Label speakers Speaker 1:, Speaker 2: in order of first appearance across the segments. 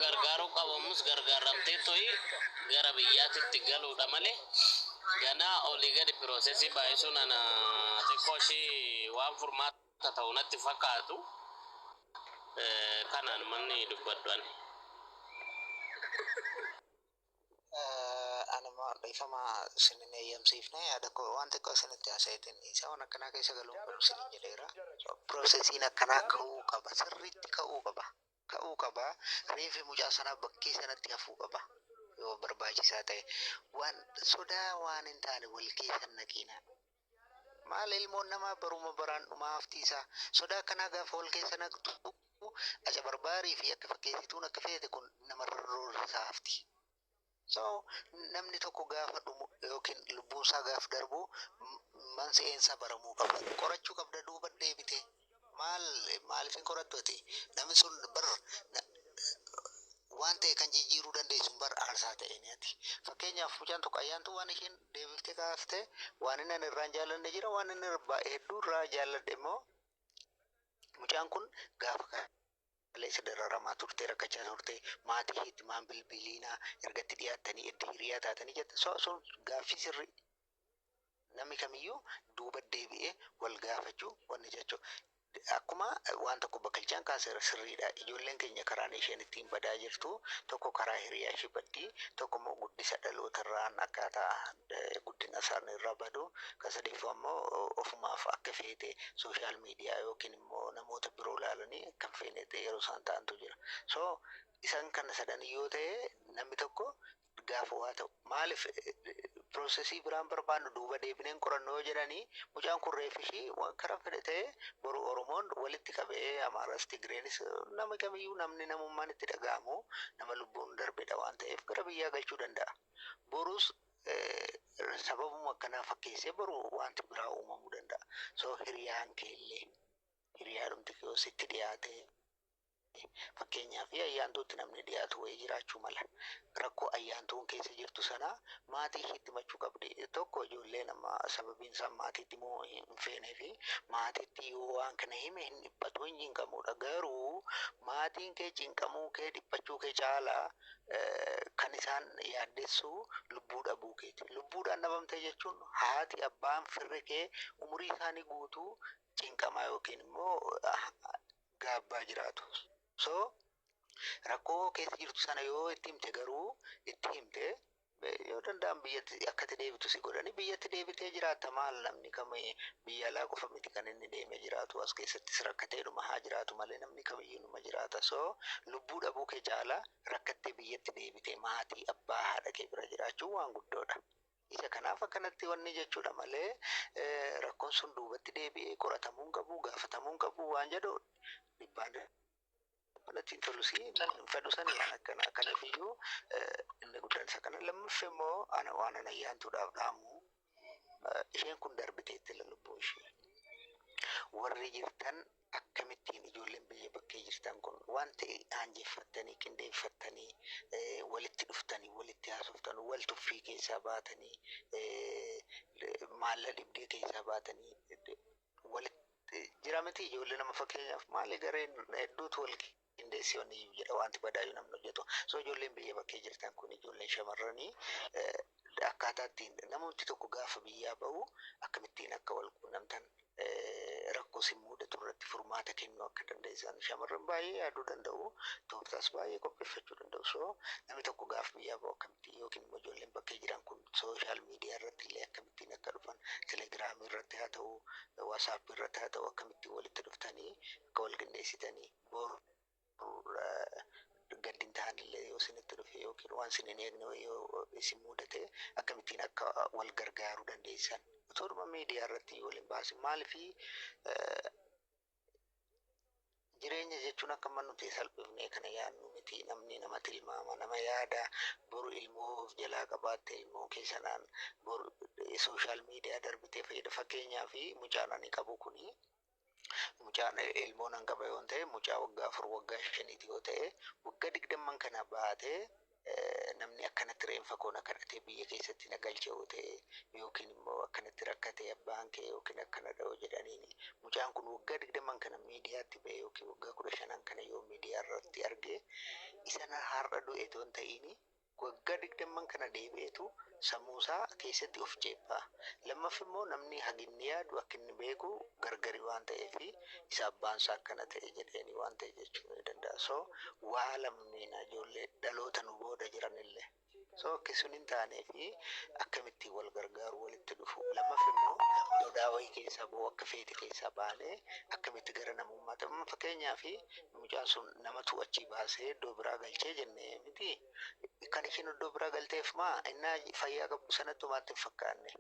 Speaker 1: gargaaruu qabamus gargaaramteetoi gara biyyaatitti galuudha malee ganaa olii gadi piroosesii baay'isuun ana xiqqoo ishii waan furmaata ta'u natti fakkaatu kanaan manni dubbadhu ani.
Speaker 2: anuma dhiifama isin hin eeyyamsiifne yaada koo waan xiqqoo isinitti haasa'eetiin dhiisa waan akkanaa keessa galuun qabu isin jedheera piroosesiin akkanaa ka'uu qaba sirriitti ka'uu qaba ta'uu qaba. Reeffi mucaa sanaa bakkee sanatti hafuu qaba. Yoo barbaachisaa ta'e waan sodaa waan hin taane wal keessa hin naqiina. Maal ilmoon namaa baruma baraan dhumaa haftii isaa sodaa akkanaa gaafa wal keessa naqxu aca barbaarii fi akka fakkeessituun akka feete kun namarra roorrisaa hafti. So namni tokko gaafa dhumu yookiin lubbuun isaa gaaf darbu mansi'een isaa baramuu qaba. Qorachuu qabda duuba deebite. Maal maaliif hin qorattu ati? Namni sun bar waan ta'e kan jijjiiruu dandeessu bar aarsaa ta'een ati. Fakkeenyaaf mucaan tokko ayyaantuu waan isheen deebiftee kaafte waan inni ani irraan jaallanne jira waan inni hedduu irraa jaalladhe immoo mucaan kun gaafa kana. Kaleessa dararamaa turtee rakkachaa turtee maatii keetti maan bilbiliinaa erga itti dhiyaattanii edda hiriyaa taatanii jette so so gaaffii sirrii namni kamiyyuu duuba deebi'ee wal gaafachuu wanni jechuu akkuma waan tokko bakkalchaan kaaseera sirriidha ijoolleen keenya karaan isheen ittiin badaa jirtu tokko karaa hiriyaa ishee baddii tokko immoo guddisa dhalootarraan akkaataa eh, guddina isaanii irraa badu kan sadeeffaa immoo ofumaaf akka feete sooshaal miidiyaa yookiin immoo namoota biroo ilaalanii akka hin feene ta'ee yeroo isaan ta'antu jira. So isaan kana sadan yoo ta'e namni tokko gaafa waa ta'u maaliif piroosesii biraan barbaannu duuba deebineen qorannoo yoo jedhanii mucaan kun reef ishii waan karaa fedhe ta'e boru Oromoon walitti qabee Amaaras Tigreenis nama kamiyyuu namni namummaan itti dhaga'amu nama lubbuun darbedha waan ta'eef gara biyyaa galchuu danda'a. Borus sababuma akkanaa fakkeessee boru wanti biraa uumamuu danda'a. So hiriyaan kee illee hiriyaadhumti kee yoo sitti dhiyaate fakkeenyaaf ayyaantuutti namni dhiyaatu wayii jiraachuu mala. Rakkoo ayyaantuun keessa jirtu sana maatii ishiitti himachuu qabdi. Tokko ijoolleen amma sababiin isaan maatiitti himuu hin feenee fi maatiitti yoo waan kana hime hin dhiphatu hin cinqamudha. Garuu maatiin kee cinqamuu kee dhiphachuu kee caalaa Kan isaan yaaddessu lubbuu dhabuu keeti. Lubbuudhaan dhabamte jechuun haati, abbaan, firri kee umurii isaanii guutuu cinqamaa yookiin immoo gaabbaa jiraatu. So rakkoo keessa jirtu sana yoo itti himte garuu itti himte yoo danda'an biyyatti akkati deebitu si godhani biyyatti deebitee jiraatta maal namni kami biyya alaa qofa miti kan inni deemee jiraatu as keessattis rakkatee dhuma haa jiraatu malee namni kamiyyuu numa jiraata so lubbuu dhabuu kee caala rakkattee biyyatti deebitee maatii abbaa haadha kee bira jiraachuun waan guddoodha. Isa kanaaf akkanatti wanni jechuudha malee eh, rakkoon sun duubatti deebi'ee qoratamuu hin qabu gaafatamuun qabu waan jedhu dhibbaan natti hin tolu si hin fedhu sani an akkana kanaaf iyyuu inni guddaan isa kana lammaffe immoo ana waan ana ayyaantuudhaaf dhaamu isheen kun darbiteetti lubbuu ishee warri jirtan akkamittiin ijoolleen biyya bakkee jirtan kun waan ta'e aanjeffattanii qindeeffattanii walitti dhuftanii walitti haasoftan wal tuffii keessaa baatanii maalla dhibdee keessaa baatanii walitti jira miti ijoollee nama fakkeenyaaf maali gareen hedduutu wal qindeessee wanni iyyuu jedha wanti badaayyuu namni hojjetu so ijoolleen biyya bakkee jirtan kun ijoolleen shamarranii eh, akkaataa ittiin namumti tokko gaafa biyyaa ba'u akkamittiin akka wal quunnamtan eh, rakkoo sin muudatu irratti furmaata kennuu akka dandeessan shamarran baay'ee yaaduu danda'u tooftaas baay'ee qopheeffachuu danda'u so namni tokko gaafa biyyaa ba'u akkamittiin yookiin immoo ijoolleen bakkee jiran kun social media irratti illee akkamittiin akka dhufan telegram irratti haa ta'u whatsapp irratti haa ta'u akkamittiin walitti dhuftanii akka wal qindeessitanii boru gaddi hin tahan illee yoo isinitti dhufe yookiin waan isin hin eegne wayii yoo isin mudate akkamittiin akka wal gargaaruu dandeessan utuudhuma miidiyaa irratti yoo waliin baasin maalifi Jireenya jechuun akka amma nuti salphifnee kana yaadnu miti. Namni nama tilmaama, nama yaada. Boru ilmoo of jalaa qabaatte ilmoo kee sanaan bor sooshaal miidiyaa darbitee fayyada. Fakkeenyaaf mucaan ani qabu kuni mucaan ilmoo nan qaba yoon ta'e mucaa waggaa afur waggaa shaniiti yoo ta'e waggaa digdamman kana baatee namni akkanatti reenfa koo na kadhatee biyya keessatti na galcha yoo ta'e yookiin immoo akkanatti rakkatee abbaan kee yookiin akkanadha yoo jedhaniin mucaan kun waggaa digdaman kana miidiyaatti ba'e yookiin waggaa kudha shanan kana yoo miidiyaa irratti arge isa na har'a du'e toon ta'iini waggaa digdamman kana deebi'eetu Sammuusaa keessatti of ceephaa. Lammaffi immoo namni haginni yaadu akkinni beeku gargari waan ta'eefi isa abbaansaa akkana ta'e jedheeni waan ta'e jechuu ni danda'a. So waa lammiina ijoollee dhaloota nu booda jiranille. So akki sun hin taaneefi akkamittiin wal gargaaru walitti dhufu. Lammaffi immoo mudaa wayii keessaa ba'uu akka feete keessaa baanee akkamitti gara namummaatti amma fakkeenyaafi mucaan sun namatu achii baasee iddoo biraa galchee jenne mitii? Kan ishiin iddoo biraa galteef maa innaa fayyaa qabdu sanatti homaatti hin fakkaanne.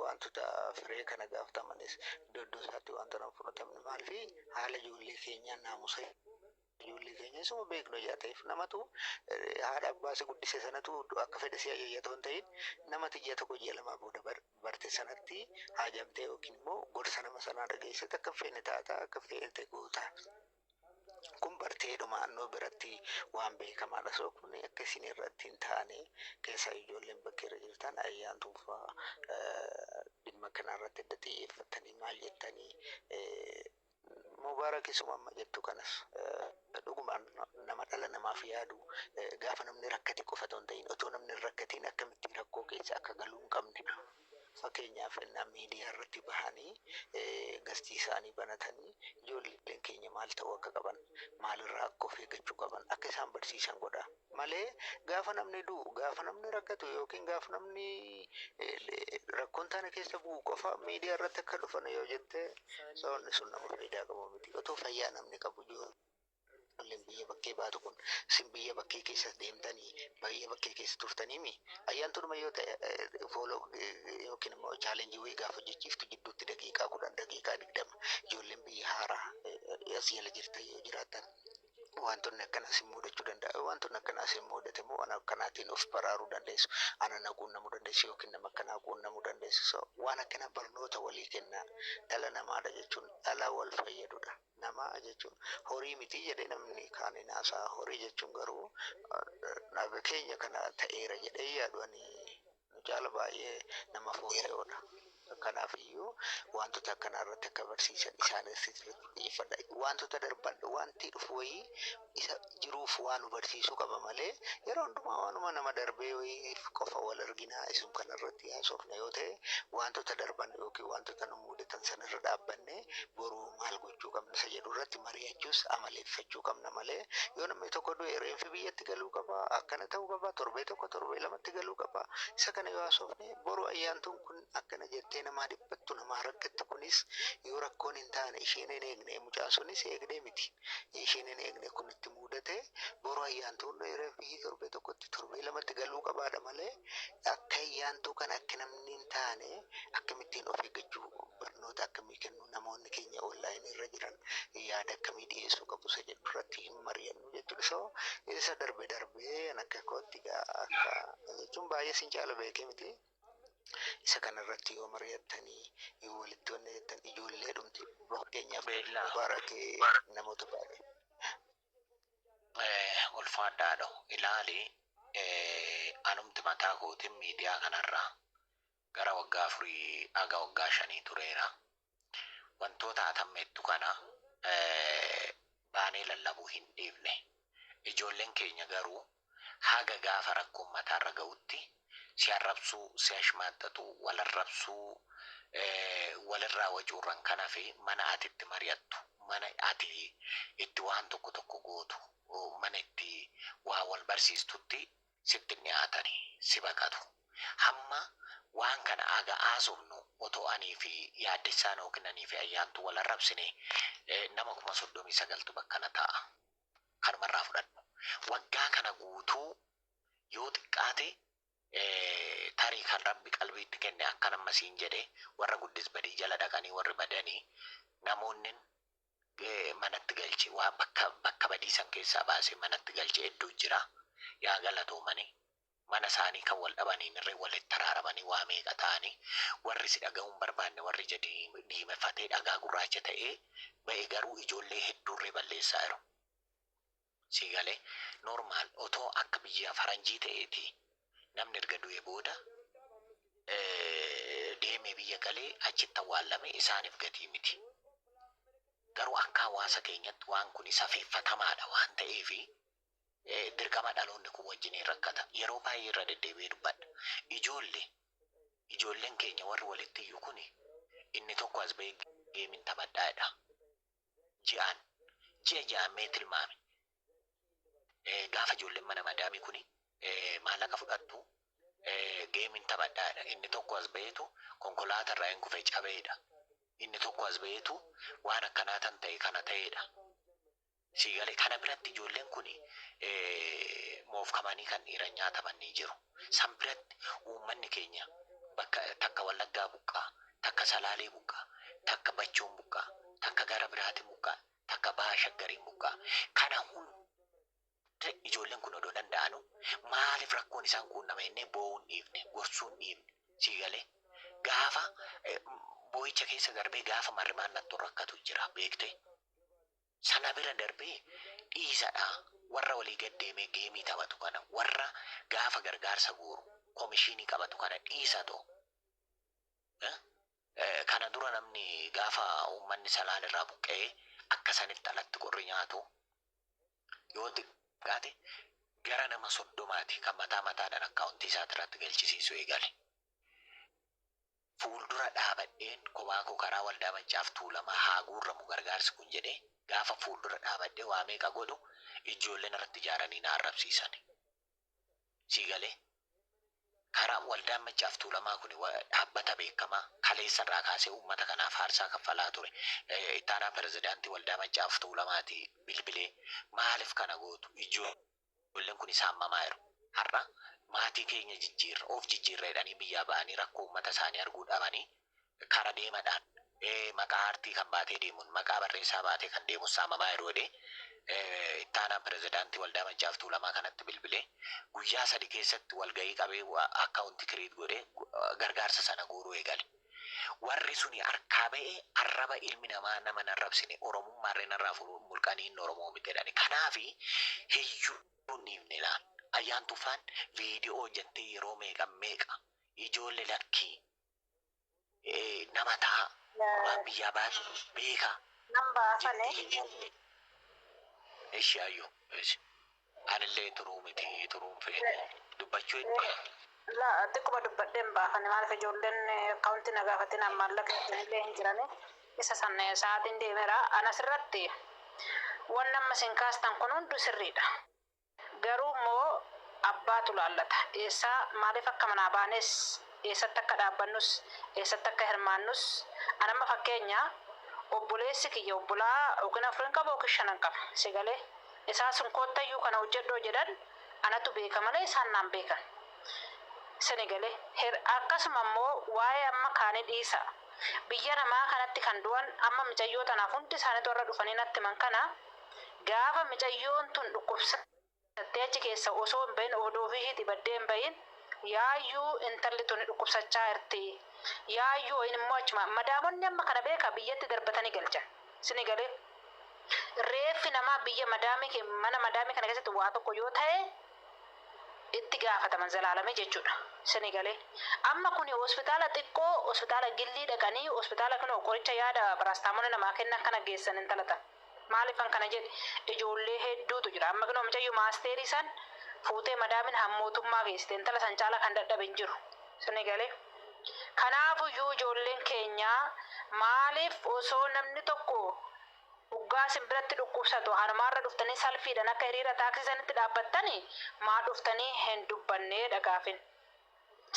Speaker 2: Wantoota firee kana gaafatamannis iddoo iddoo isaatti wanta nan fudhatamne maalfi haala ijoollee keenyaa naamusa ijoollee keenya isuma beeknu ijaa ta'eef namatu haadha abbaa si guddise sanatu akka fedhe si ajayyatoo hin ta'in namati ija tokko ji'a lamaa booda barte sanatti haajamtee yookiin immoo gorsa nama sanaa dhageessite akka feene taata akka feete goota. Kun barteedhuma annoo biratti waan beekamaadha so kun akka isin irratti hin taane keessaa ijoolleen bakka irra jirtan ayyaantuun faa dhimma kana irratti adda xiyyeeffattanii maal jettanii mubaarak isuma amma jettu kanas dhugumaan nama dhala namaaf yaadu gaafa namni rakkate qofa otoo hin ta'in otoo namni hin rakkatiin akkamittiin rakkoo keessa akka galuu hin qabne Fakkeenyaaf ennaa miidiyaa irratti bahanii gastii isaanii banatanii ijoolleen keenya maal ta'uu akka qaban, maal irraa akka of eeggachuu qaban akka isaan barsiisan godha. Malee gaafa namni du'u, gaafa namni rakkatu yookiin gaafa namni rakkoo hin taane keessa bu'u qofa miidiyaa irratti akka dhufan yoo jette sababni sun nama faayidaa qabu miti. Otoo fayyaa namni qabu ijoollee. Ijoolleen biyya bakkee baatu kun isin biyya bakkee keessa deemtanii biyya bakkee keessa turtanii mi? Ayyaantuudhuma yoo ta'e fooloo yookiin immoo chaalenjii wayii gaafa hojjechiiftu jidduutti daqiiqaa kudhan daqiiqaa digdama ijoolleen biyya haaraa as jala jirtan yoo jiraatan wantoonni akkana isin mudachuu danda'a. Wantoonni akkanaa isin mudate immoo waan akkanaatiin of baraaruu dandeessu. Ana na quunnamuu dandeessu yookiin nama akkanaa quunnamuu dandeessu. So waan akkanaa barnoota walii kennaa dhala namaadha jechuun dhala wal fayyadudha. Nama jechuun horii miti jedhe namni kaan hin haasa'aa. Horii jechuun garuu dhabe keenya kana ta'eera jedhee hin yaadu ani. Nu caala baay'ee nama fooyya'oodha. Kanaafiyyuu wantoota akkanaa irratti akka barsiisan isaanitti xiyyeeffadha. Wantoota darban wanti dhufu wayii isa jiruuf waa nu barsiisuu qaba malee yeroo hundumaa waanuma nama darbee wayiif qofa wal arginaa isum kana irratti haasofna yoo ta'e wantoota darban yookiin wantoota nu mudatan sanarra dhaabbanne boruu maal gochuu qabna isa jedhu irratti mari'achuus amaleeffachuu qabna malee yoo namni tokko du'e reenfi biyyatti galuu qaba akkana ta'uu qaba torbee tokko torbee lamatti galuu qaba isa kana yoo haasofne boruu ayyaantuun kun Akkana jettee namaa dhiphattu namaa rakkattu kunis yoo rakkoon hin taane isheen hin eegne mucaan sunis eegdee miti ishiin hin eegne kun itti muudate boru ayyaantuun rfb torbee tokkotti torbee lamatti galuu qabaadha malee akka ayyaantuu kan akka namni hin taane akkamittiin of eeggachuu barnoota akkamii kennu namoonni keenya online irra jiran yaada akkamii dhiyeessuu qabu isa jedhu irratti hin mari'annu jechuudha so isa darbe darbee an akka kootti gaa akka jechuun baay'ee sin caala beekee miti Isa kana irratti yoo mari'attanii, yoo walitti wanna jettan ijoolleedhumti fakkeenyaaf Beellaa. mubaarake namoota baay'ee. Eh,
Speaker 3: ulfaadha haadho. Ilaali, eh, anumti mataa kootiin miidiyaa kanarra gara waggaa afurii haga waggaa shanii tureera. wantoota atammeettu kana baanee lallabuu hin dhiifne. Ijoolleen keenya garuu haga gaafa rakkoon mataarra ga'utti si arrabsuu, si ashmaaxxaxuu, wal arrabsuu, walirraa wacuurran kan hafe mana ati itti mari'attu, mana ati itti waan tokko tokko gootu, mana itti waa wal barsiistutti sitti hin dhiyaatani si baqatu. Hamma waan kana haga haasofnu otoo anii fi Yaaddessaan ykn anii fi Ayyaantuu wal arrabsine nama 39,000tu bakkana taa'a. Kanuma irraa fudhadhu. Waggaa kana guutuu yoo xiqqaate tarii kan Rabbi qalbiitti kenne akkan amma siin jedhe warra Guddis Badii jala dhaqanii warri badani namoonnin manatti galche waan bakka bakka badii san keessaa baasee manatti galche hedduu jira yaa galatoomani mana isaanii kan wal dhabaniin irree walitti araaramanii waa meeqa ta'anii warri si dhaga'uun barbaanne warri ija dii- diimefatee dhagaa gurraacha ta'ee ba'e garuu ijoollee hedduurree balleessaa jiru. Sii gale normal otoo akka biyyaa faranjii ta'eeti namni erga du'ee booda deemee biyya galee achitti awwaallame isaaniif gatii miti garuu akka hawaasa keenyatti waan kun safeeffatamaadha waan ta'eef dirqama dhaloonni kun wajjiniin rakkata yeroo baay'ee irra deddeebi'ee dubbadha ijoolle ijoolleen keenya warri walitti iyyu kun inni tokko as ba'ee geemin taphadhaa jedha ji'aan ji'a ji'aan mee tilmaami. Eh, Gaafa ijoolleen mana madaamii kuni eh, maallaqa fudhattu eh, geemiin taphadhaadha. Inni tokko as ba'eetu konkolaataa irraa hin kufe cabeedha. Inni tokko as ba'eetu waan akkanaa tan ta'e kana ta'eedha. Sii galee kana biratti ijoolleen kuni eh, moofkamanii kan dhiiran nyaataman ni jiru. San biratti uummanni keenya bakka takka wallaggaa buqqaa takka Salaalee muqqaa, takka Bachoo muqqaa, takka gara biraati muqqaa, takka Baha Shaggarii muqqaa. Kana hunda ijoolleen kun odoo danda'anuu maaliif rakkoon isaan quunnama jennee boo'uu hin dhiifne, gorsuu hin dhiifne. Sii galee? Gaafa boo'icha keessa darbee gaafa marrimaan nattu rakkatu jira beektee. Sana bira darbee dhiisadha warra walii gad deemee geemii taphatu kana, warra gaafa gargaarsa guuru komishiinii qabatu kana dhiisatoo. Kana dura namni gaafa uummanni Salaan irraa buqqa'ee akka sanitti alatti qorri nyaatu yoo xiqqaate gara nama soddomaati kan mataa mataadhaan akkaawuntii isaati irratti galchisiisu eegale. Fuuldura dhaabadheen kophaa koo karaa waldaa maccaaf tuulamaa haa guurramu gargaarsi kun jedhee gaafa fuuldura dhaabadhee waa meeqa godhu ijoolleen irratti ijaaranii na arrabsiisani. Sii galee? Karaan waldaan Maccaaf Tuulamaa kuni dhaabbata beekamaa kaleessa irraa kaasee uummata kanaaf aarsaa kaffalaa ture. Itti aanaan pirezidaantii waldaa Maccaaf Tuulamaati bilbilee maaliif kana gootu? Ijoolleen kuni saammamaa jiru. Har'a maatii keenya jijjiirra, of jijjiirra jedhanii biyyaa ba'anii rakkoo uummata isaanii arguu dhabanii Kara deemadhaan maqaa aartii kan baatee deemuun maqaa barreessaa baatee kan deemus saamamaa yeroo jedhee itti aanaan pirezidaantii Waldaa Machaaf Tuulamaa kanatti bilbilee guyyaa sadi keessatti walgahii qabee akkaawunti kiriit godhee gargaarsa sana guuruu eegale. Warri suni harkaa ba'ee arraba ilmi namaa nama hin arrabsine Oromummaallee narraa furuun mulqanii inni Oromoo miti jedhani. Kanaafi hiyyuu hin dhiifne laal. Ayyaantuu faan viidiyoo hojjattee yeroo meeqa meeqa ijoolle lakkii eh, nama ta'a waan biyyaa baatu beeka Nan baafane. jettee hin yaadne. Ishi ayyu ishi anillee turuu miti turuun feene dubbachuu hin feene. La
Speaker 4: xiqquma dubbadhee hin baafane maaliif ijoolleen akkaawuntii na gaafatin maallaqa illee hin jirani. Isa san eh, sa'aatiin deemera. Anas irratti wanni amma isin kaastan kun hunduu sirriidha. Garuu immoo abbaatu laallata. Eessaa, maaliif akka manaa baanes, eessatti akka dhaabbannus, eessatti akka hirmaannus, an amma fakkeenya, obboleessi kiyya obbolaa ykn afurin qaba ykn shanan qaba. Si galee? Isaan sun kootta iyyuu kana hojjedhu yoo jedhan anatu beeka malee isaan naan beekan. Sini galee? Her Akkasuma immoo waa'ee amma kaanii dhiisa. Biyya namaa kanatti kan du'an amma micayyoo tanaaf hundi isaanitu har'a dhufanii natti himan kana, Gaafa micayyoon tun dhukkubsattee achi keessaa osoo hin bahin odoo ofii ishiitii baddee hin bahin yaayyuu intalli tuni dhukkubsachaa jirti yaayyuu wayiin immoo achumaan madaamonni amma kana beekaa biyyatti darbatanii galchan isinii galee reeffi namaa biyya madaamii mana madaamii kana keessatti waa tokko yoo tahe itti gaafataman zalaalamii jechuudha isinii galee amma kuni hospitaala xiqqoo hospitaala gillii dhaqanii hospitaala kinoo qoricha yaada paraastaamoolii namaa kennan kana geessan intala tana. Maaliifan kana jedhe ijoollee hedduutu jira amma kinoo micayyoo maasteerii san fuutee madaamin hammootummaa geessite intala san caalaa kan dadhabe hin jiru sini galee kanaafuyyuu ijoolleen keenya maaliif osoo namni tokko uggaa sin biratti dhukkubsatu hanumaarra dhuftanii salfiidhan akka hiriira taaksii sanitti dhaabbattani maa dhuftanii hin dubbannee dha gaafin.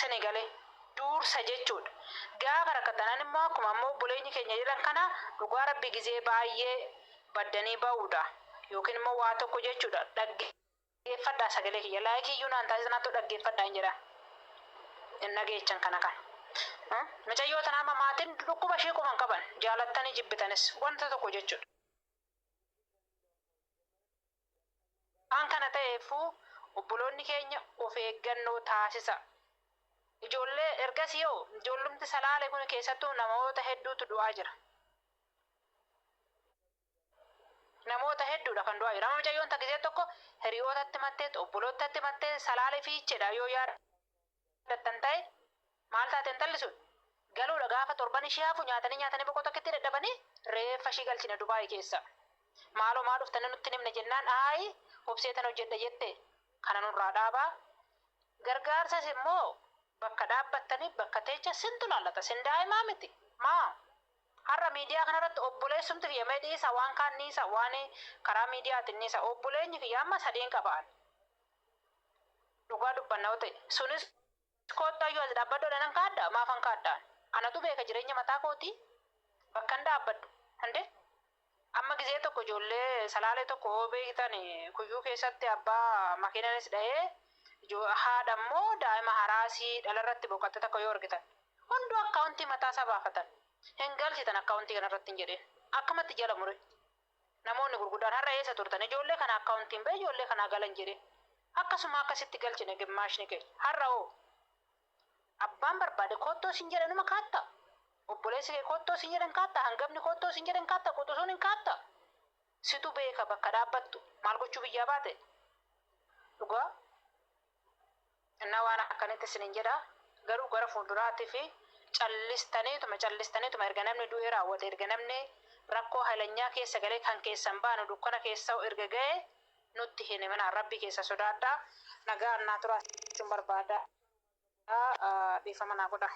Speaker 4: Sani gale. Duursa jechuudha. Gaafa rakkattanan immoo akkuma amma obboleenyi keenya jedhan kana dhugaa rabbi gizee baay'ee baddanii ba'uudha. Yookiin immoo waa tokko jechuudha. Dhaggeeffadhaa sagalee kiyya. Like iyyuu naan taasisan hatto dhaggeeffadhaa hin jedhaa. Hin dhageechan kana kana. Haa? Micayyoo tana amma maatiin dhukkuba ishii quban qaban. Jaalattanii jibbitanis. Wanta tokko jechuudha. Waan kana ta'eeffuu obboloonni keenya of eeggannoo taasisa. Ijoollee ergasii hoo ijoollumti salaale kun keessattuu namoota hedduutu du'aa jira. Namoota hedduudha kan du'aa jira. Amma mucayyoon takka ishee tokko hiriyootatti mattee, obboloottatti mattee salaale fiichedha yoo yaadde. Kan ta'e maal taate intalli sun? Galuudha gaafa torban ishii hafu nyaatanii nyaatanii boqoo tokkitti dadhabanii reeffa ishii galchina Dubaayii keessa. Maaloo maa dhuftanii nutti hin himne jennaan aayi obseetan hojjedha jette kana nurraa dhaabaa. Gargaarsas immoo bakka dhaabbattanii bakka teechan sintu laallata sin daa'imaa miti maa har'a miidiyaa kanarratti obboleessumti kiyya mee dhiisa waan kaan dhiisa waan karaa miidiyaatiin dhiisa obboleenyi kiyya amma sadiin qaba ani. Dhugaa dubbanna yoo ta'e. Sunis koottu hayyuu as dhaabbadhu jedheenan kaadha? Maafan kaadha ani? Anatu beeka jireenya mataa kootii bakkan dhaabbadhu. Hundee! Amma gizee tokko ijoollee Salaalee tokko yoo beektan kuyyuu keessatti abbaa makiinanis dha'ee haadha immoo daa'ima haraasii dhalarratti boqatte takka yoo argitan. Hunduu akkaawuntii mataasaa baafatan. Hin galchitan akkaawuntii kanarratti hin jedheen. Akkamatti jala mure. Namoonni gurguddaan har'a eessa turtan? Ijoollee kana account hin ba'e ijoollee kanaa gala hin jedhin. Akkasuma akka sitti galchine gimmaashni keenya. Har'a hoo? Abbaan barbaade koottoo siin jedhe numa kaatta? Obboleessi kee koottoo siin jedhe hin kaatta? Hangafni koottoo siin jedhe hin kaatta? Quxusuun hin kaatta? Situ beeka bakka dhaabbattu. Maal gochuu biyyaa baate? Dhugaa. Innaa waan akkanitti isiniin jedha, garuu gara fuulduraatiif callistaniituma, callistaniituma, erga namni du'ee raawwate, erga namni rakkoo haylanyaa keessa galee kan keessan baanu dukkana keessa erga ga'e nutti hin himinaa, Rabbii keessan sodaadhaa, nagaan naa turaa isiniin jechuun barbaada, dhiifama naa godhaa.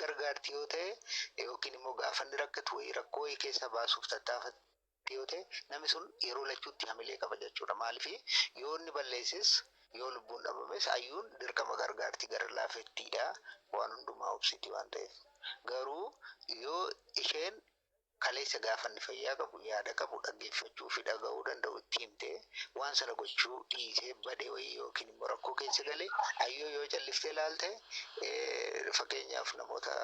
Speaker 2: gargaarti yoo ta'e yookiin immoo gaafanni rakkatu wayii rakkoo wayii keessa baasuuf tattaafatti yoo ta'e namni sun yeroo lachuutti hamilee qaba jechuudha. Maaliif yoo inni balleesses yoo lubbuun dhabames ayyuun dirqama gargaarti gara laafettiidha waan hundumaa obsiti waan ta'eef. Garuu yoo isheen Kaleessa gaafa inni fayyaa qabu, yaada qabu, dhaggeeffachuu fi dhaga'uu danda'u itti himtee waan sana gochuu dhiisee bade wayii yookiin immoo rakkoo keessa gale ayyoo yoo calliftee ilaalte fakkeenyaaf namoota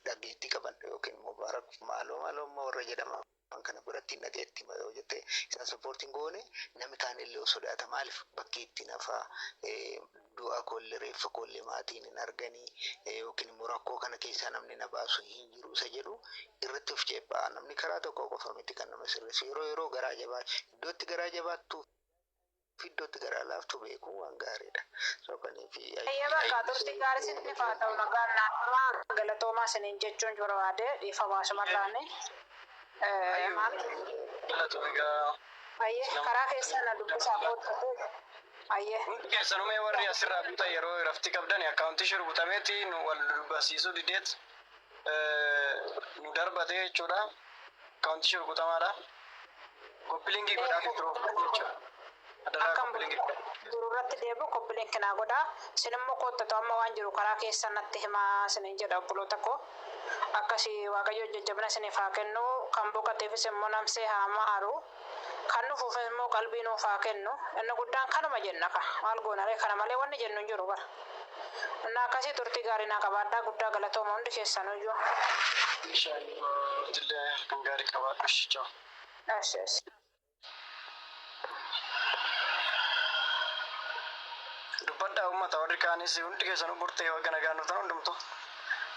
Speaker 2: dhaggeettii qaban yookiin immoo baarak maaloo maaloo amma warra jedhama. waan kana godhattiin dhageetti ma yoo jette isaan support hin goone namni kaan illee sodaata maaliif bakkee itti nafa du'a koollee reeffa koollee maatiin hin arganii yookiin immoo rakkoo kana keessaa namni na baasu hin jiru isa jedhu irratti of ceephaa namni karaa tokko qofa miti kan nama sirreessu yeroo yeroo garaa jabaa iddootti garaa jabaattu Fiddootti garaa laaftuu beekuun waan gaariidha. So kaniif Hayyee bakka turtii
Speaker 4: gaarii isiniif haa ta'u nagaan naaf turaa galatoomaa isiniin jechuun barbaade dhiifama asumarraani eh, maal Galatomi gaa. hayyee karaa keessan na dubbisaa koottatee hayyee Hundi
Speaker 5: keessanuu mee warri asirraa butan yeroo iraftii qabdan akkaawuntii ishee rukutameeti nu wal barsiisuu dideet nu darbatee jechuudha. Kaawunti ishee rukutamaadha. Koppiliingii godhaa fi biroo jechuudha. Adaraa Akkam
Speaker 4: koppiliingii godhaa. jiru irratti deebi'u koppileen kinaa godhaa. Sin immoo koottatu amma waan jiru karaa keessa natti himaa sinin jedha obboloota koo. Akkasii Waaqayyo jajjabina siniif haa kennu. Kan boqateefis immoo namsee haa maaru. Kan dhufuufis immoo qalbii nuuf haa kennu. Inni guddaan kanuma jenna kaa. Maal goonaree kana malee wanni jennu hin jiru bar. Innaa akkasii turtii gaarii naa qabaadhaa guddaa galatooma hundi keessanuyyuu. Insha Allah atillee
Speaker 5: halkan gaarii qabaadhu ishi ciao. Eshi eshi. Dubbadhaa ummata warri kaanis hundi keessanuu burtee baga nagaan dhuftan hundumtuu.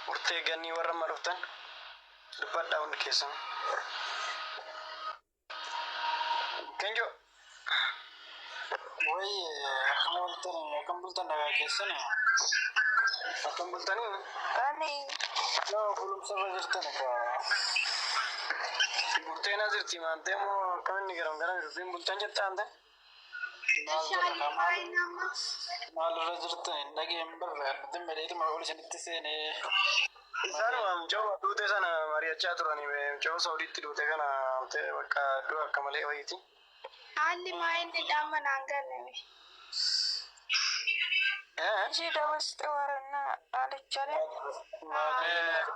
Speaker 5: Burtee ganii warra amma dhuftan. Dubbadhaa hundi keessanuu. Kenjo. Woy akkam ooltan akkam bultan nagaa keessani. Akkam bultanii? Ani
Speaker 4: Yoo
Speaker 5: bulumsa irra jirtan egaa. Bulteenaa jirti maantee moo akkam inni garam garam dubbiin bultan jettaan ta'e? Shaalii faayii nama. Maalirra jirtan hin dhageen barre abdiin badheetuma ol isinitti seene. Isaan mucoo duute sana mari'achaa turanii mucoo Saudiitti duute kana bakka du'a akka malee wayiiti. Haalli
Speaker 6: maa inni dhamma naan galle. Ishii dabarsite warannaa dhaalichaalee. Waaqayyoon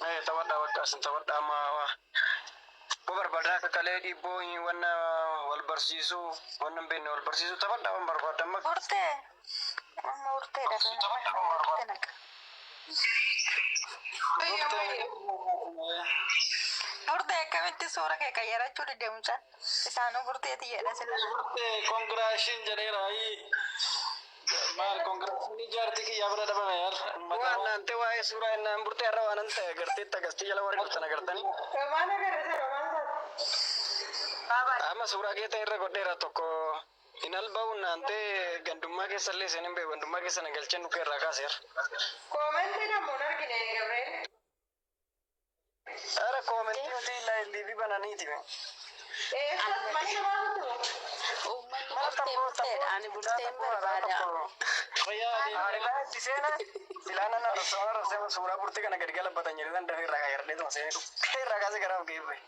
Speaker 5: Eh, tawadha bakka sin tawadha amma bo barbaadna akka kalee dhiibboo hin wanna wal barsiisuu wanna hin beekne wal barsiisuu tawadha wan barbaadda amma Urte. Amma
Speaker 6: urte da. Urte da. Urte na. Urte akkamitti suura kee qayyarachuu dide mucaan. Isaanuu burteeti jedha sila. Urte
Speaker 5: congratulations jedheera ayii. Maal konkolaataan jaartii kiyyaa bira dhabame yaal. Waan naante waa'ee suuraa innaa hin burtee har'a waan ta'e agarteetti akkasitti jala warri dhuftan agartanii. Romaan agarrisa
Speaker 4: romaan taate.
Speaker 5: Amma suuraa keetan irra godheera tokko hin alba'uun naante gandummaa keessa illee isin hin beeku gandummaa keessa na galchee nukkee irraa kaaseera. Koomentiin
Speaker 4: ammoo hin argine Gabriel.
Speaker 5: Sara koomentii utii illaa illiifi bananiiti me. Uummanni
Speaker 1: bultee bulteedha. Ani bulteen barbaada.
Speaker 5: Haarilaa itti seena silaa nan arrabsama arrabsama suuraa burtee kana gadi galabbatan jedhee nan dafee irraa kaayardhee tuma seenee dhukkee irraa kaasee garaa of ga'ee bu'e.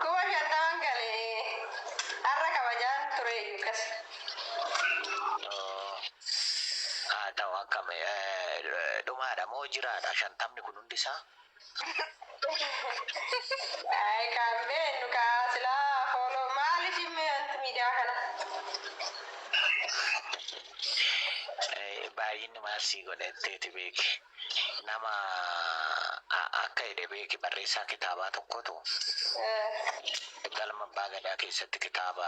Speaker 4: Kuma shantaman gale har'a kabajaan tureeyyu akkas.
Speaker 3: Haa ta'u akkam dhumaadha moo jiraadha shantamni kun hundi isaa?
Speaker 4: Ay kan beennu kaa silaa fooloo maaliif himme wanti miidiyaa kana?
Speaker 3: Baay'inni maal sii godhe itteeti beeki. Nama akka jedhe beeki barreessaa kitaabaa tokkotu galma abbaa gadaa keessatti kitaaba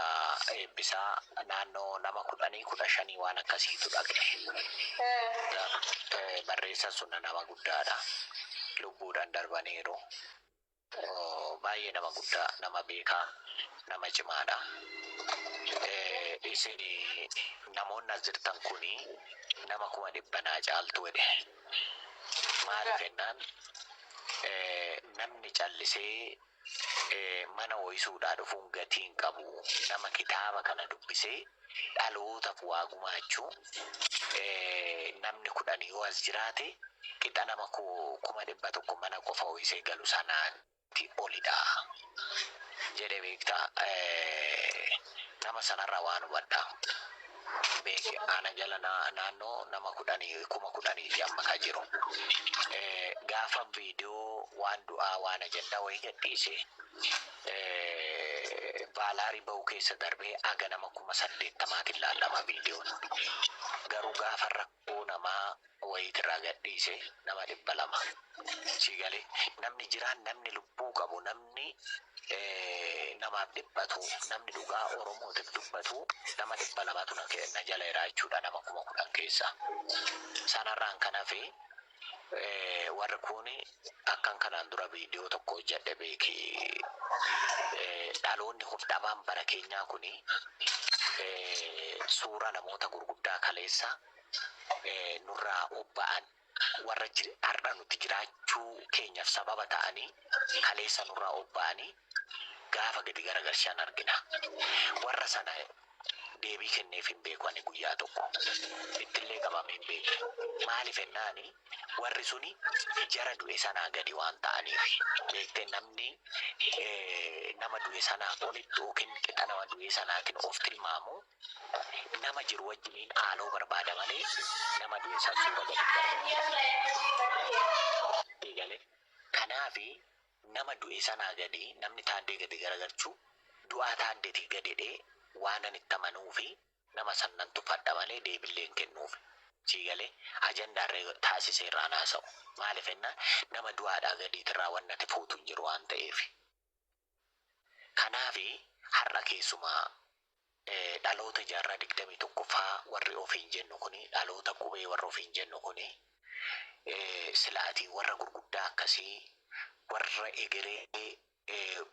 Speaker 3: eebbisaa naannoo nama kudhanii kudha shanii waan akkasiitu dhaqe barreessan sunna nama guddaadha lubbuudhan darbaniiru Baay'ee nama guddaa nama beekaa nama cimaadha. Isin namoonni as jirtan kun nama kuma dhibba naa caaltu jedhe. Maaliif jennaan namni callisee mana ho'isuudhaa dhufuun gatii hin qabu. Nama kitaaba kana dubbisee dhalootaf waa gumaachu namni kudhan yoo as jiraate qixa nama kuma dhibba tokko mana qofa ho'isee galu sanaati olidha jedhe beekta nama sanarraa waan hubadha beeke ana jala naannoo nama kudhan kuma kudhaniiti amma ka jiru gaafa viidiyoo waan du'aa waan ajandaa wayii gadhiise Vaalaarii bahu keessa darbee haga nama kuma saddeettamaatiin laallama viidiyoon. Garuu gaafa rakkoo namaa wayiiti irraa gadhiise nama dhibba lama. Sii galee? Namni jiraan, namni lubbuu qabu, namni namaaf dhiphatu, namni dhugaa Oromootiif dubbatu nama dhibba lamatu na jala jira jechuudha nama kuma kudhan keessaa. Sanarraan kan hafe Warri kuuni akkan kanaan dura viidiyoo tokko hojjadhe beeki. Dhaloonni hudhamaan bara keenyaa kuni suuraa namoota gurguddaa kaleessa nurraa obba'an warra har'a nuti jiraachuu keenyaf sababa ta'anii kaleessa nurraa obba'anii gaafa gadi garagalchan argina. Warra sana deebii kenneef hin beeku ani guyyaa tokko. Ittillee qabamee hin beeku. Maaliif jennaani warri suni jara du'e sanaa gadi waan ta'aniif. Beektee namni nama du'e sanaa olitti yookiin qixa nama du'ee sanaatiin of tilmaamu nama jiru wajjiniin haaloo barbaada malee nama du'e san suura gadi hin darban. Eegale. Kanaafi Nama du'e sanaa gadi namni Taaddee gadi garagarchu du'aa Taaddetii gadedhee waanan itti amanuufi nama san nan tuffadha malee deebillee hin kennuufi. Sii galee? Ajandaa irra taasisee irraan haasa'u. Maalif ennaan nama du'aadhaa gadiitirraa wanni ati fuutu hin jiru waan ta'eefi. Kanaafi har'a keessumaa dhaloota jaarraa 21ffaa warri ofiin jennu kun dhaloota qubee warra ofiin jennu kun silaatii warra gurguddaa akkasii warra egeree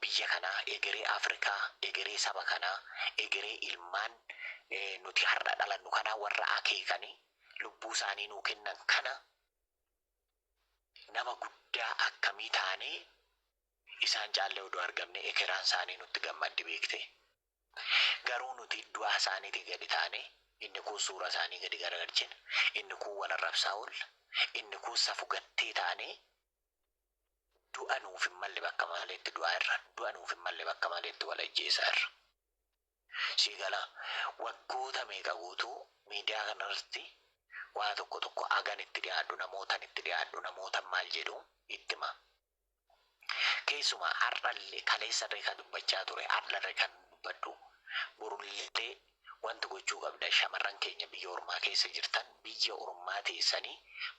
Speaker 3: biyya kanaa egeree Afrikaa egeree saba kanaa egeree ilmaan nuti har'a dhalannu kanaa warra akeekani lubbuu isaanii nuu kennan kana nama guddaa akkamii taanee Isaan caallee uduu argamnee ekeraan saanii nutti gammaddi beektee. Garuu nuti du'aa saaniitii gadi taanee inni kuun suuraa saanii gadi garagalchina, inni kuun wal arrabsaa oolla, inni kuun safu gattee taanee du'a nuuf hin malle bakka maleetti du'aa irra, du'a nuuf hin malle bakka maleetti wal ajjeesaa irra. Sii galaa? Waggoota meeqa guutuu miidiyaa kana irratti waa tokko tokko hagan itti dhiyaadhu, namootan itti dhiyaadhu, namootan maal jedhu itti himaa. Keessumaa har'allee kaleessallee kan dubbachaa ture har'allee kan dubbadhu borullee wanti gochuu qabdan shamarran keenya biyya ormaa keessa jirtan biyya ormaa teessanii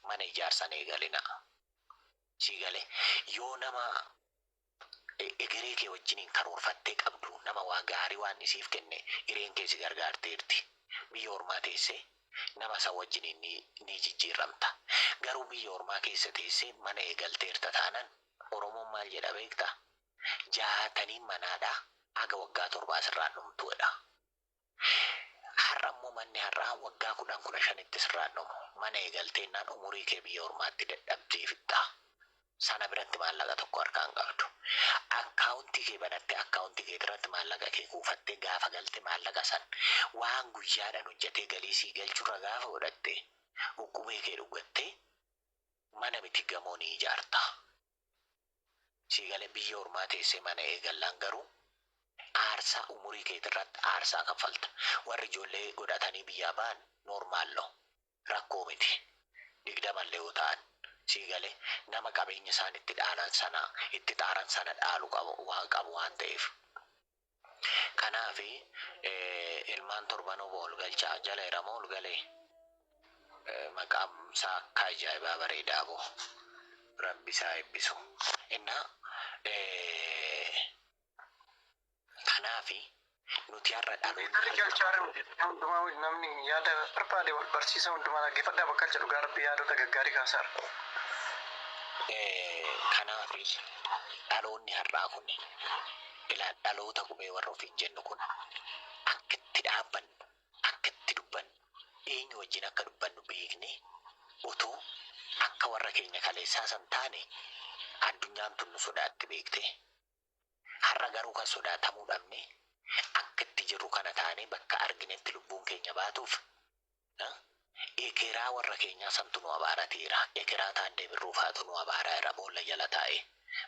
Speaker 3: mana ijaarsan eegalinaa. Sii galee? Yoo nama egeree kee wajjiniin karoorfattee qabdu nama waa gaarii Waaqni siif kenne hireen kee si gargaarteerti. Biyya ormaa teessee Nama isa wajjiniin ni, ni jijjiirramta. Garuu biyya ormaa keessa teessee mana eegalteerta taanan, Oromoon maal jedha beektaa? Jaataniin manaadha, haga waggaa torbaa sirraan dhumtu jedha. Har'a immoo manni har'aa waggaa kudhan, kudha shanitti sirraan dhumu. Mana eegalteennaan umurii kee biyya ormaatti dadhabdee fixxa. sana biratti maallaqa tokko harkaa hin qabdu. Akkaawuntii kee banattee akkaawuntii keetirratti maallaqa kee kuufattee gaafa galte maallaqa san waan guyyaadhan hojjatee galii sii galchurra gaafa godhatte uqqubee kee dhuggattee mana miti gamoo ni ijaarta. Sii galee biyya ormaa teessee mana eegallaan garuu aarsaa umurii keetirratti aarsaa kaffalta. Warri ijoollee godhatanii biyyaa ba'an normal no. rakkoo miti. Digdamallee yoo ta'an. Sii galee? Nama qabeenya isaan itti dhaalan sana, itti xaaran sana dhaalu qabu, waan qabu waan ta'eef. Kanaaf ilmaan torbanuu boo ol galchaa. Jalaera moo ol galee? Maqaan isaa akka ajaa'ibaa bareedaa boo. Rabbi isaa eebbisu. Innaa Kanaafi, nuti har'a dhaloonni Gari harka. galchaa jiru jechuudha. Hundumaa wajjin namni
Speaker 5: yaada barbaade wal barsiisa. Hundumaa dhaggeeffadhaa bakka jedhu dhugaa rabbii yaadota gaggaarii kaasaarra.
Speaker 3: Kanaafi, dhaloonni har'aa kun ila dhaloota qubee warra ofiin jennu kun akka itti dhaabbannu, akka itti dubbannu, eenyu wajjin akka dubbannu beeknee utuu akka warra keenya kaleessaa san taane addunyaan tun nu sodaatti beektee. Har'a garuu kan sodaatamuu dhabne akka itti jirru kana taanee bakka arginetti lubbuun keenya baatuuf ekeraa warra keenyaa santu nu abaarateera. Ekeraa Taaddee Birruu faatu nu abaaraera boolla jala taa'ee.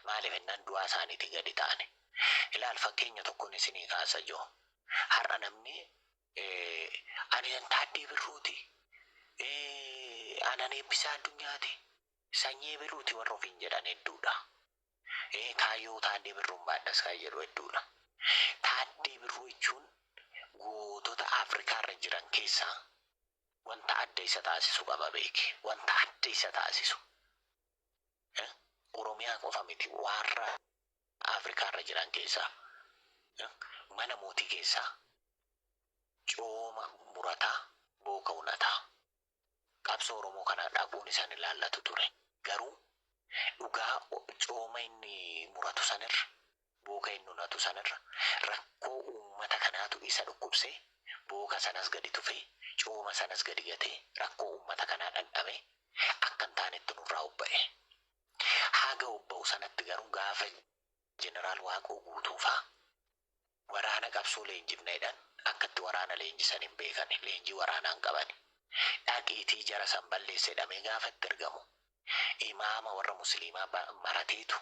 Speaker 3: Maaliif ennaan du'aa isaaniitii gadi taane. Ilaal fakkeenya tokkon isinii kaasa ijoo. Har'a namni ani nan Taaddee Birruuti, anan Eebbisaa Addunyaati, Sanyii Ebeluuti warri ofiin jedhan hedduudha. Ee kaayyoo Taaddee Birruun baadhas kan jedhu hedduudha. Taaddee Birruu jechuun gootota Afrikaa irra jiran keessaa wanta adda isa taasisu qaba beeki. Wanta adda isa taasisu. Oromiyaa qofa miti warra Afrikaa irra jiran keessaa mana mootii keessaa cooma murataa booka unataa. qabsoo Oromoo kana dhaquun isa hin ilaallatu ture. Garuu dhugaa cooma inni muratu sanirra, booka inni unatu sanirra rakkoo uummata kanaatu isa dhukkubsee booka sanas gadi tufee, cooma sanas gadi gatee rakkoo uummata kanaa dhandhamee akka hin taanetti nurraa obba'e. Haga obba'u sanatti garuu gaafa Jeneraal Waaqoo Guutuufaa, Waraana qabsoo leenjifna jedhan akka itti waraana leenjisan hin beekani. Leenjii waraanaa hin qabani. Dhaqiitii jara san balleessi jedhamee gaafa itti ergamu imaama warra musliimaa ba marateetu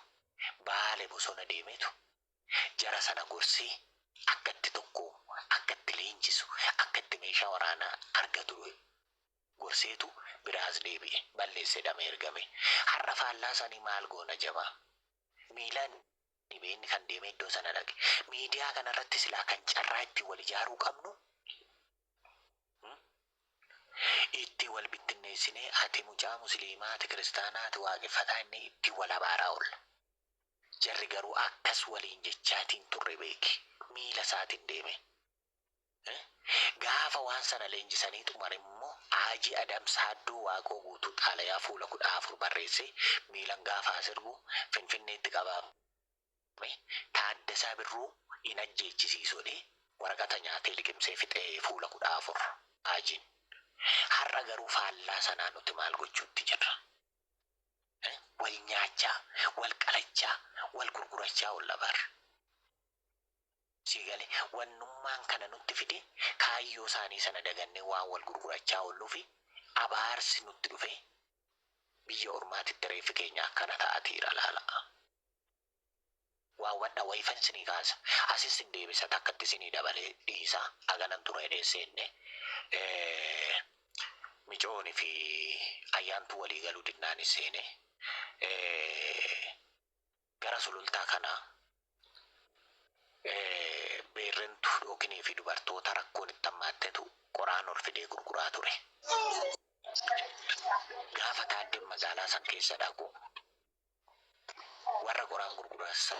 Speaker 3: baale bosona deemeetu jara sana gorsee akka itti tokkoomu, akka itti leenjisu, akka itti meeshaa waraanaa argatu gorseetu biraa as deebi'e. Balleessi jedhamee ergame. Har'a faallaa sanii maal goona jamaa? Miilan Dhibee inni kan deemee iddoo sana dhaqe. Miidiyaa kana irratti silaa kan carraa ittiin wal ijaaruu qabnu itti wal bittinneessinee ati mucaa musliimaa ati kiristaanaa ati waaqeffataa inni itti wal abaaraa oolla. Jarri garuu akkas waliin jechaatiin turre beeki. Miila isaatiin deemee. Gaafa waan sana leenjisanii xumare immoo Haajii Adam Saaddoo Waaqoo Guutuu xaalayaa fuula 14 barreessee miilan gaafa as ergu Finfinneetti qabaamee Taaddasaa Birruu hin ajjeechisiisu jedhee waraqata nyaatee liqimsee fixe fuula 14. Haajiin. Har'a garuu faallaa sanaa nuti maal gochuutti jirra? Wal nyaachaa, wal qalachaa, wal gurgurachaa oolla bar. Sii gale. Wannummaan kana nutti fide kaayyoo isaanii sana dagannee waan wal gurgurachaa oolluufi abaarsi nutti dhufee biyya ormaatitti reeffi keenya akkana ta'atiira laala. Waa hubadha wayifan isinii kaasa asi isin deebisa takkatti isinii dabalee dhiisa aganan ture jedhee seenne micoon fi ayyaantuu walii galuu dinnaan seene Gara sulultaa kana beerrentu dhookinii fi dubartoota rakkoon itti hammaattetu qoraan ol fidee gurguraa ture. Gaafa Taaddeen magaalaa san keessa dhaqu warra qoraan gurguran san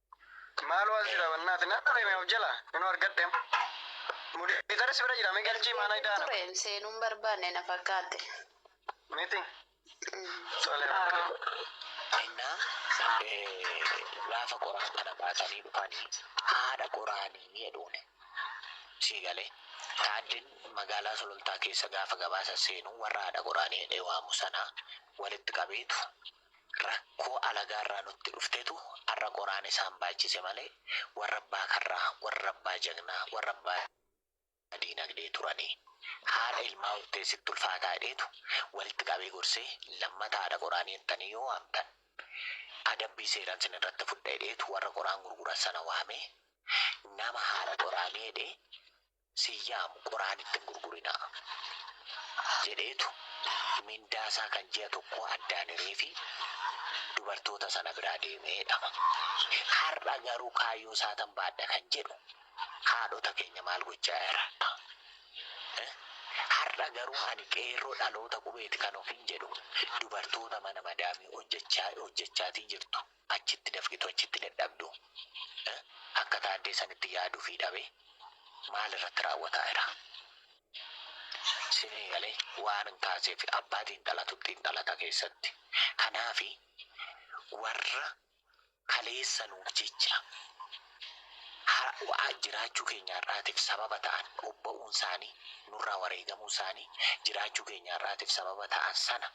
Speaker 5: Maaloo as jira bannaati na dhabeeme of jala inuu argadhe mudeetara si bira jira mee galchii maana Ergeen idaana ture seenuun barbaanne
Speaker 4: na fakkaatte. miti
Speaker 5: tole
Speaker 3: Ennaa eh, gaafa qoraan kana baatanii dhufanii haadha qoraanii jedhuun sii galee taaddeen magaalaa sulultaa keessa gaafa gabaasa seenu warra haadha qoraanii jedhee waamu sanaa walitti qabeetu Rakkoo alagaarraa nutti dhuftetu arra qoraan isaan baachise malee warra abbaa karraa, warra abbaa jagnaa, warra abbaa diinagdee turani. Haadha ilmaa hortee sitti ulfaataa jedheetu walitti qabee gorsee lammata haadha qoraanii jettanii yoo waamtan adabbii seeran sin irratti fudha jedheetu warra qoraan gurguran sana waamee nama haadha qoraanii jedhee sin yaamu quraanitti hin gurgurinaa jedheetu mindaa isaa kan ji'a tokkoo addaan hireefi dubartoota sana biraa deeme jedhama. Har'a garuu kaayyoo isaatan baadha kan jedhu haadhota keenya maal gochaa jira? Har'a garuu ani qeerroo dhaloota qubeeti kan ofiin jedhu dubartoota mana madaamii hojjechaa hojjechaatii jirtu. achitti dafqitu achitti dadhabdu akka taaddee sanitti yaadufi dhabe maal irratti raawwataa ira sinii gale waanan kaaseefi abbaa xiinxalatu xiinxalata keessatti kanaafi warra kaleessa nuuf jecha har'a jiraachuu keenya har'aatiif sababa ta'an obba'uun isaanii nurraa wareegamuun isaanii jiraachuu keenya har'aatiif sababa ta'an sana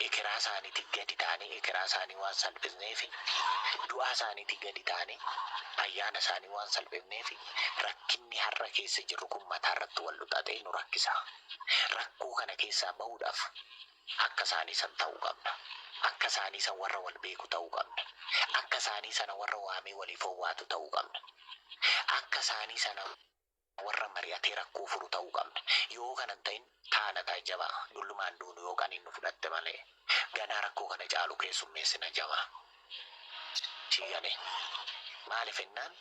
Speaker 3: ekeraa isaaniitii gadi taanee ekeraa isaanii waan salphifneefi du'aa isaaniitii gadi taanee ayyaana isaanii waan salphifneefi rakkinni har'a keessa jirru kun mataa irratti wal luxaxee nu rakkisa. Rakkoo kana keessaa bahuudhaaf akka isaanii san ta'uu qabna. Akka isaanii san warra wal beeku ta'uu qabna. Akka isaanii sana warra waamee waliif owwaatu ta'uu qabna. Akka isaanii sana warra mari'atee rakkoo furu ta'uu qabna. Yoo kana hin ta'in taana ta'i jabaa, dullumaan duunu yoo qaniin nu fudhatte malee. Ganaa rakkoo kana caalu keessummeessina jabaa. Sii galee? Maalif ennaan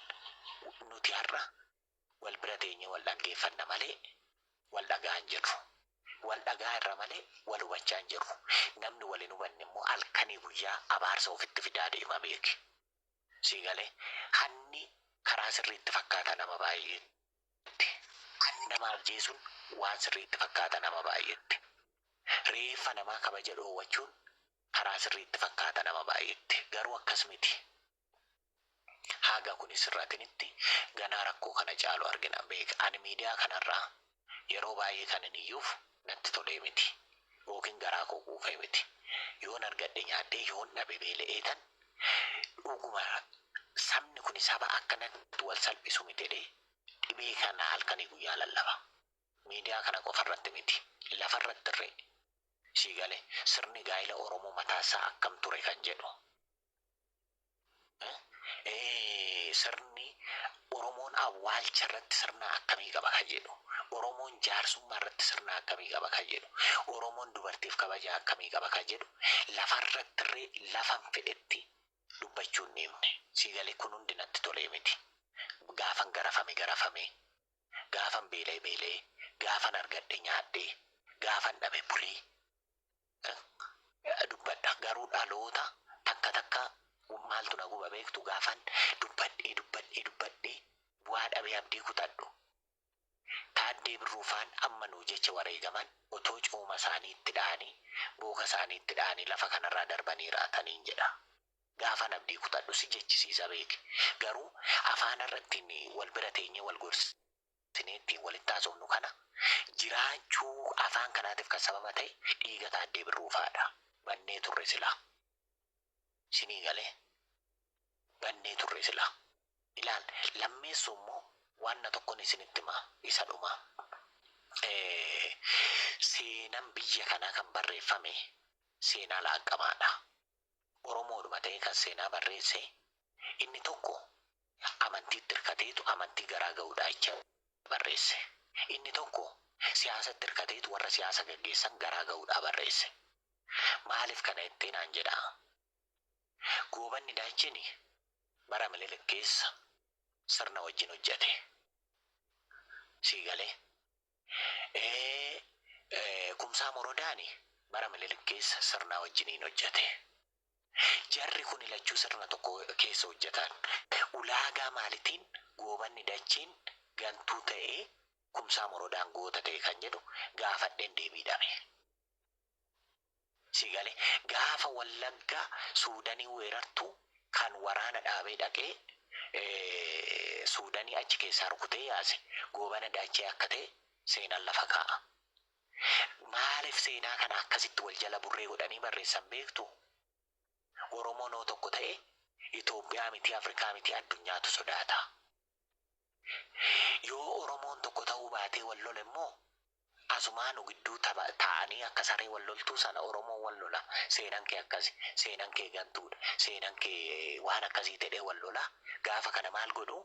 Speaker 3: nuti har'a wal bira teenyee wal dhaggeeffanna malee wal dhaga'aa hin jirru. Wal dhaga'aa irra malee wal hubachaa hin jirru. Namni wal hin hubanne immoo halkanii guyyaa abaarsa ofitti fidaa deema beeki. Sii galee? Hanni karaa sirrii itti fakkaata nama baay'eetti. Hanni nama ajjeesuun waan sirrii itti fakkaata nama baay'eetti. Reeffa namaa kabaja dhoowwachuun karaa sirrii itti fakkaata nama baay'eetti. Garuu akkas miti. Haga kun hin sirratinitti ganaa rakkoo kana caalu argina. Beek ani miidiyaa kanarraa Yeroo baay'ee kanin iyyuuf natti tolee miti ykn garaa koo quufee miti. Yoon argadhe nyaadhee yoon dhabe beela'eetan dhuguma sabni kuni saba akkanatti wal salphisu miti jedhee dhibee kana halkanii guyyaa lallaba. Miidiyaa kana qofa irratti miti lafa irrattirree. Sii galee? Sirni gaa'ila Oromoo mataa isaa akkam ture kan jedhu sirni Oromoon awwaalcha irratti sirna akkamii qaba kan jedhu, Oromoon jaarsummaa irratti sirna akkamii qaba kan jedhu, Oromoon dubartiif kabaja akkamii qaba kan jedhu lafarratti irree lafan fedhetti dubbachuu hin dhiifne. Sii galee kun hundi natti tolee miti. Gaafan garafame garafamee, gaafan beela'e beela'ee, gaafan argadhe nyaadhee, gaafan dhabe bulee, dubbadha garuu dhaloota takka takka maaltu na guba beektu gaafan dubbadhee dubbadhee dubbadhee bu'aa dhabee abdii kutadhu taaddee birruu faan amma nuu jecha wareegaman otoo cooma isaanii itti dha'anii booka isaanii itti dha'anii lafa kanarraa darbanii raataniin jedha gaafan abdii kutadhu si jechisiisa beeki garuu afaanarrattiin wal bira teenyee wal gorsi. Sini ittiin walitti haasofnu kana. Jiraachuu afaan kanaatiif kan sababa ta'e dhiiga Taaddee Birruu fa'adha. Bannee turre silaa. Sinii galee? Bannee turre silaa. Ilaal, lammeessuu immoo waanna tokkon isinitti hima. Isa dhumaa. Seenan biyya kanaa kan barreeffame seenaa laaqqamaadha. Oromoodhuma ta'ee kan seenaa barreesse inni tokko amantiitti hirkateetu amantii garaa ga'uudhaa jecha barreesse. Inni tokko siyaasatti hirkateetu warra siyaasa gaggeessan garaa ga'uudhaa barreesse. Maaliif kana jettee naan jedhaa? Goobanni Daacheni bara Minilik keessa sirna wajjin hojjete. Sii galee? Ee, Kumsaa Morodaani bara Minilik keessa sirnaa wajjiniin hojjate. Jarri kuni lachuu sirna tokko keessa hojjatan. Ulaagaa maalitiin Goobanni Dacheen gantuu ta'ee Kumsaa Morodaan goota ta'e kan jedhu gaafadheen deebii dhabe. Si gale gaafa wallagga suudanii weerartu kan waraana dhaabee dhaqee suudanii achi keessaa rukutee yaase goobana daachee akka ta'e seenan lafa kaa'a. Maalif seenaa kana akkasitti wal jala burree godhanii barreessan beektu? Oromoon hoo tokko ta'e Itoophiyaa mitii Afrikaa mitii addunyaatu sodaata. Yoo Oromoon tokko ta'uu baatee wal lole immoo asumaa nu gidduu taa'anii akka saree wal loltuu sana Oromoon wal lola seenan kee akkasi seenan kee gantuudha seenan kee waan akkasii jedhee wal lola gaafa kana maal godhu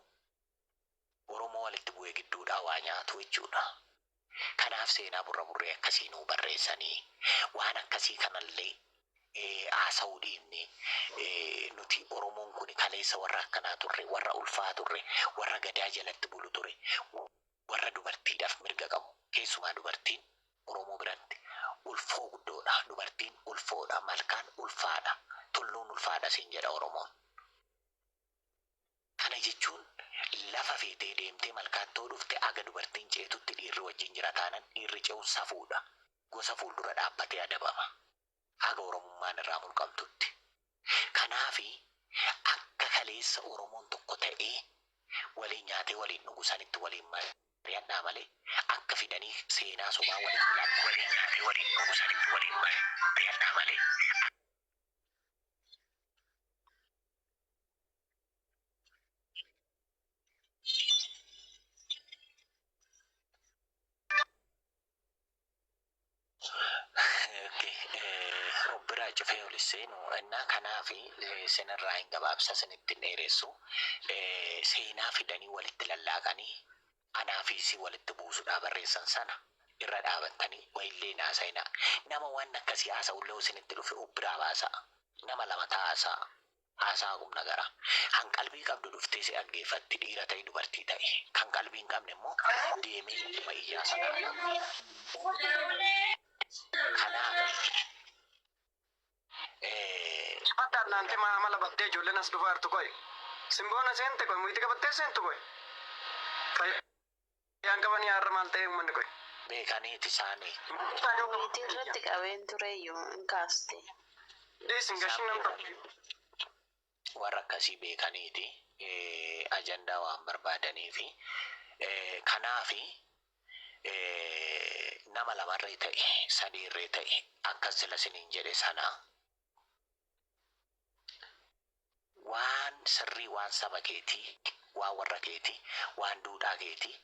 Speaker 3: Oromoo walitti bu'ee gidduudhaa waa nyaatu jechuudha. Kanaaf seenaa burramurree akkasii nuu barreessanii waan akkasii kanallee haasa'uu dhiifnee nuti Oromoon kuni kaleessa warra akkanaa turre, warra ulfaa turre, warra Gadaa jalatti bulu ture, warra dubartiidhaaf mirga qabu. Keessumaa dubartiin Oromoo biratti ulfoo guddoodha. Dubartiin ulfoodha. Malkaan ulfaadha. Tulluun ulfaadha siin jedha Oromoon. Kana jechuun lafa feetee deemtee malkaatti yoo dhufte haga dubartiin ceetutti dhiirri wajjin jira taanan dhiirri ce'u safuudha. Gosa fuuldura dhaabbatee adabama. Haga Oromummaan irraa mulqamtutti. Kanaafi akka kaleessa Oromoon tokko ta'ee waliin nyaatee waliin dhugu sanitti waliin mariyadhaa malee akka fidanii seenaa sobaa walitti laaqxanii. Waliin nyaatee waliin dhugu sanitti waliin mariyadhaa malee akka. Obbiraa cufee ol seenu innaa kanaaf sinirraa hin gabaabsa sinitti hin dheeressu seenaa fidanii walitti lallaaqanii Anaa fi si walitti buusudhaa barreessan sana irra dhaabattanii wa illee hin haasayinaa. Nama waan akkasii haasa'ullee yoo isinitti dhufe of biraa baasa'a. Nama lama ta'aa haasa'a. Haasa'a qumnagaraa. Kan qalbii qabdu dhuftee si dhaggeeffatti, dhiira ta'i dubartii ta'i. Kan qalbii hin qabne immoo deemee ittuma iyyaa sana alaa. Kanaaf.
Speaker 5: Jabadha Adnaan Timaa amala badde ijoolleen as dhufaa jirtu qoy Simboona seente qoy muyti qabattee seentu qoy fayyaan qabanii har'a maal ta'ee ummanni qoy. beekaniiti isaani.
Speaker 3: Miitii
Speaker 4: irratti qabeen tureeyyu hin kaaste. Dhiisi hin
Speaker 5: gashin namni tokko.
Speaker 3: warra akkasii beekaniiti ajandaa waan barbaadaniifi kanaafi nama lamarree ta'e sadiirree ta'e akkas sila siniin jedhe sana waan sirrii waan saba keetii waan warra keetii waan duudhaa keetii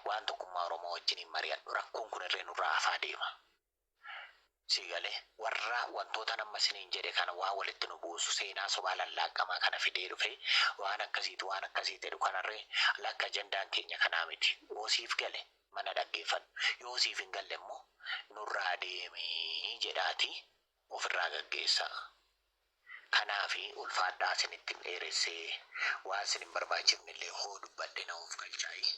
Speaker 3: waan tokkummaa oromoo wajjiniin mari'adhu rakkoon kunirree nurraa hafaa deema. Sii galee? Warra wantootan amma isiniin jedhe kana waan walitti nu buusu, seenaa sobaa lallaaqamaa kana fidee dhufee waan akkasiiti waan akkasii jedhu kanarree lakki ajandaan keenya kanaa miti. Yoo siif gale mana dhaggeeffadhu. Yoo siif hin galle immoo nurraa deemi jedhaatii ofirraa gaggeessaa. Kanaafi ulfaadhaa isinitti hin dheeressee, waan isin hin barbaachifnellee hoo dubbadhe na of galchaayi.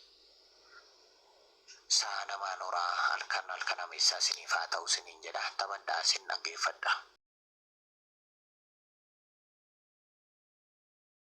Speaker 3: Sa'a namaan horaa, halkan halkan ameessaa isiniif haa ta'u isiniin jedha. Taphadhaa isin dhaggeeffadha.